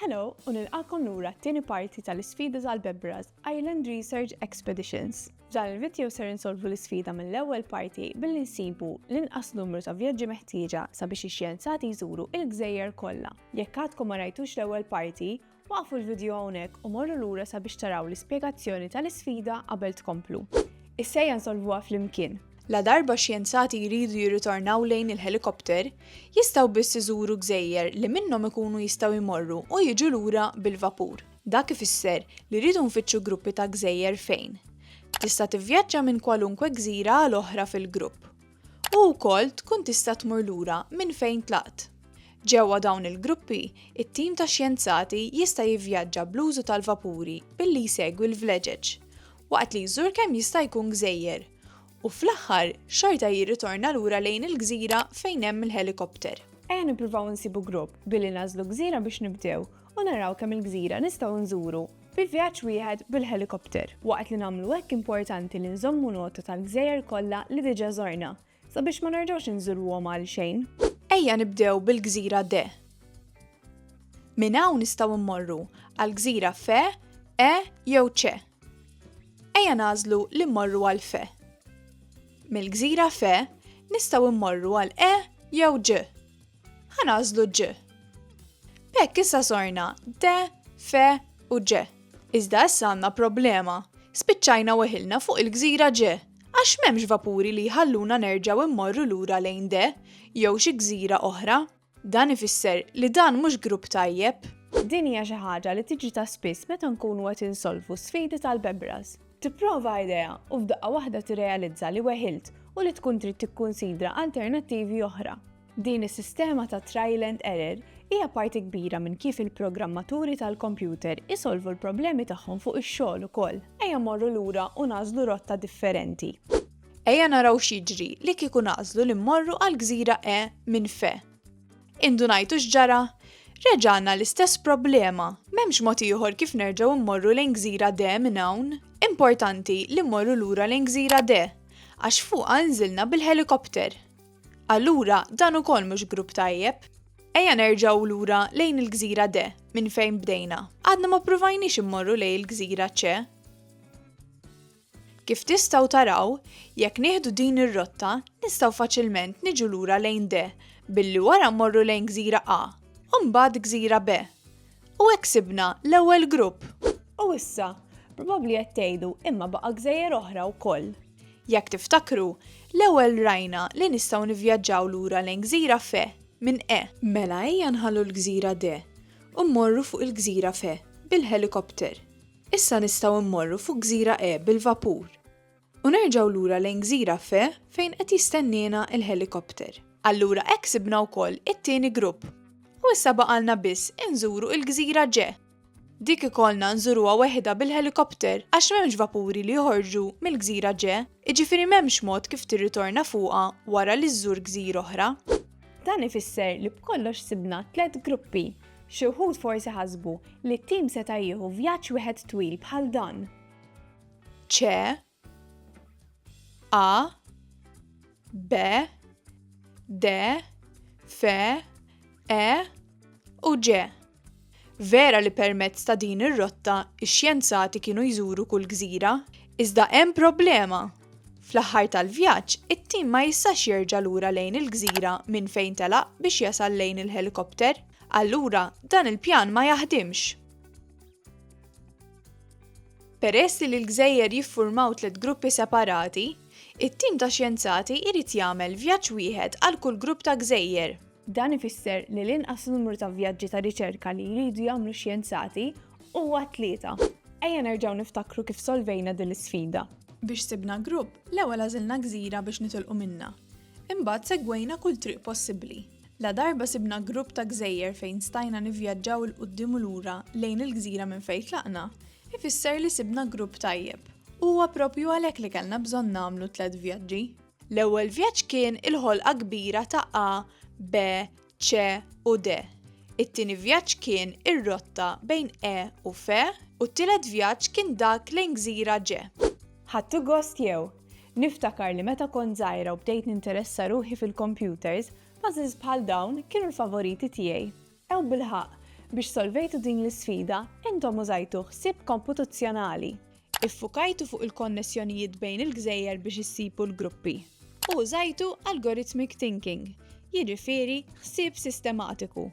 Hello u nilqagħkom lura t-tieni parti tal-isfida tal-Bebra's Island Research Expeditions. F'dan il-vidjo ser insolvu l-isfida mill-ewwel parti billi nsibu l-inqas numru ta' vjaġġi meħtieġa sabiex ix-xjenzati jżuru il-gżejjer kollha. Jekk għadkom ma rajtux l-ewwel parti, waqqfu l-vidjo hawnhekk u morru lura sabiex taraw l-ispjegazzjoni tal-isfida qabel tkomplu. Is-sejja nsolvuha flimkien! Ladarba xjenzati jridu jirritornaw lejn il-ħelikopter, jistgħu biss iżuru gżejjer li minnhom ikunu jistgħu jmorru u jiġu lura bil-vapur. Dak ifisser li rridu nfittxu gruppi ta' gżejjer fejn. Tista' tivvjaġġa minn kwalunkwe gżira għal oħra fil-grupp. U wkoll tkun tista' tmur lura minn fejn tlaqt. Ġewwa dawn il-gruppi, it-tim ta' xjenzati jista' jivvjaġġa bl-użu tal-vapuri billi jsegwi l-vleġeġ, waqt li jżur kemm jista' jkun gżejjer. U fl-aħħar, xorta jirritorna lura lejn il-gżira fejn hemm il-ħelikopter. Ejja nippruvaw insibu grupp billi nagħżlu gżira biex nibdew u naraw kemm il-gżira nistgħu nżuru bi vjaġġ wieħed bil-ħelikopter. Waqt li nagħmlu hekk importanti li nżommu nota tal-gżejjer kollha li diġà żorna sabiex ma nerġgħux inżuruhom għalxejn. Ejja nibdew bil-gżira D. Minn hawn nistgħu mmorru għall-gżira F, E jew C. Ejja nagħżlu li mmorru għal Fe. Mill-gżira Fe nistgħu mmorru għal E jew Ġ. Ħa nagħżlu Ġ. B'hekk issa sorna D, Fe u Ġ. Iżda issa għandna problema. Spiċċajna weħilna fuq il-gżira Ġ għax m'hemmx vapuri li jħalluna nerġgħu mmorru lura lejn D jew xi gżira oħra. Dan ifisser li dan mhux grupp tajjeb. Din hija xi ħaġa li tiġi ta' spiss meta nkunu qed insolvu sfidi tal-bebras. Tipprova idea u f'daqqa waħda tirrealizza li weħilt u li tkun trid tikkunsidra alternattivi oħra. Din is-sistema ta' trial and error hija parti kbira minn kif il-programmaturi tal-kompjuter isolvu l-problemi tagħhom fuq ix-xogħol ukoll. Ejja mmorru lura u nagħżlu rotta differenti. Ejja naraw x'jiġri li kieku nagħżlu li mmorru għall-gżira E minn Fe. Indunajtu x'ġara? Reġa' għandna l-istess problema, m'hemmx mod ieħor kif nerġgħu mmorru lejn gżira D minn hawn. Importanti li mmorru lura lejn gżira D, għax fuqha nżilna bil-ħelikopter. Allura dan ukoll mhux grupp tajjeb. Ejja nerġgħu lura lejn il-gżira D minn fejn bdejna. Għadna ma ppruvajniex immorru lejn il-gżira C. Kif tistgħu taraw, jekk nieħdu din ir-rotta, nistgħu faċilment niġu lura lejn D billi wara mmorru lejn gżira A, u mbagħad gżira B. U hekk sibna l-ewwel grupp! U issa, probabbli qed tgħidu, imma baqa' gżejjer oħra wkoll. Jekk tiftakru, l-ewwel rajna li nistgħu nivvjaġġaw lura lejn gżira Fe minn E. Mela ejja nħallu l-gżira D u mmorru fuq il-gżira Fe bil-ħelikopter. Issa nistgħu mmorru fuq Gżira E bil-vapur u nerġgħu lura lejn Gżira F fejn qed jistenniena l-ħelikopter. Allura hekk sibna wkoll it-tieni grupp u issa baqgħalna biss inżuru il-Gżira G. Dik ikollna nżuruha weħidha bil-ħelikopter għax m'hemmx vapuri li joħorġu mill-Gżira G, jiġifieri m'hemmx mod kif tirritorna fuqha wara li żżur gżira oħra. Dan ifisser li b'kollox sibna tliet gruppi. Xi wħud forsi ħasbu li t-tim seta' jieħu vjaġġ wieħed twil bħal dan. Ċe A B D F E u G. Vera li permezz ta' din ir-rotta x-xjenzati kienu jżuru kull gżira, iżda hemm problema! Fl-aħħar tal-vjaġġ, it-tim ma jistax jerġa' lura lejn il-gżira minn fejn telaq biex jasal lejn il-ħelikopter. Allura, dan il-pjan ma jaħdimx. Peress li l-gżejjer jiffurmaw tliet gruppi separati, it-tim ta' xjenzati jrid jagħmel vjaġġ wieħed għal kull grupp ta' gżejjer. Dan ifisser li l-inqas numru ta' vjaġġi ta' riċerka li jridu jagħmlu xjenzati huwa tlieta. Ejja nerġgħu niftakru kif solvejna din l-isfida. Biex sibna grupp, l-ewwel għażilna gżira biex nitilqu minnha. Imbagħad segwejna kull triq possibbli. Ladarba sibna grupp ta' gżejjer fejn stajna nivvjaġġaw 'il quddiem u lura lejn il-gżira minn fejn tlaqna, ifisser li sibna grupp tajjeb. Huwa proprju għalhekk li kellna bżonn nagħmlu tliet vjaġġi. L-ewwel vjaġġ kien il-ħolqa kbira ta' A, B, C u D. It-tieni vjaġġ kien ir-rotta bejn E u F u t-tielet vjaġġ kien dak lejn gżira G. Ħadtu gost jew? Niftakar li meta kont żgħira u bdejt ninteressa ruħi fil-kompjuters, puzzles bħal dawn kienu l-favoriti tiegħi. Ew bilħaqq, biex solvejtu din l-isfida, intom użajtu ħsieb komputazzjonali. Iffukajtu fuq il-konnessjonijiet bejn il-gżejjer biex issibu l-gruppi. U użajtu algorithmic thinking, jiġifieri ħsieb sistematiku,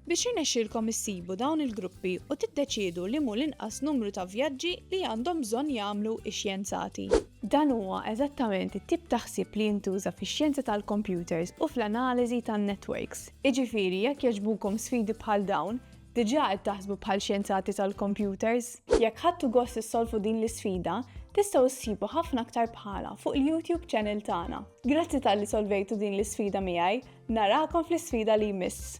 biex jirnexxilkom issibu dawn il-gruppi u tiddeċiedu li m'hu l-inqas numru ta' vjaġġi li għandhom bżonn jagħmlu x-xjenzati. Dan huwa eżattament it-tip ta' ħsieb li jintuża fix-xjenza tal-kompjuters u fl-analiżi tan-networks. Iġifieri jekk jogħġbukom sfidi bħal dawn, diġà qed taħsbu bħal xjenzati tal-kompjuters? Jekk ħadtu gost issolvu din l-isfida, tistgħu ssibu ħafna aktar bħalha fuq il-YouTube channel tagħna. Grazzi talli solvejtu din l-isfida miegħi, narakom fl-isfida li jmiss!